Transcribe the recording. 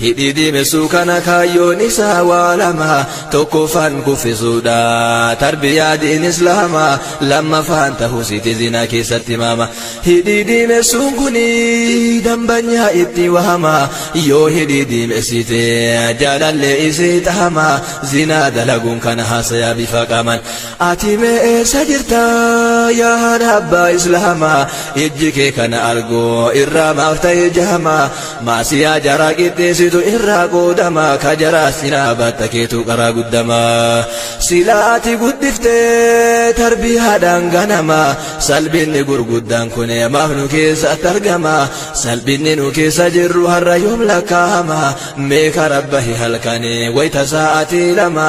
Hidhii diimessuu kana kaayyoon isaa waa lama tokkoffaan kuffisuudha tarbiyaa diin islaama lammaffaan tahu siti zinaa keessatti maama hidhii diimessuun kuni dambanyaa itti wahama yoo hidhii diimessite jaalallee isii tahama zinaa dalaguun kana haasayaa bifa qaaman Ati mee eessa jirta yaa haadha abbaa islaama ijji kee kana argu irraa maaf ta'e jaama maasiyaa jaraa qixxeessitu irraa qoodama ka jaraa sinaa batta keetu qaraa guddama silaa ati guddifte tarbiyaadhaan ganama salbinni gurguddaan kun maaf nu keessatti argama salbinni nu keessa jirru har'a yoom lakkaa'ama meeka rabbahi halkanii wayta sa'atii lama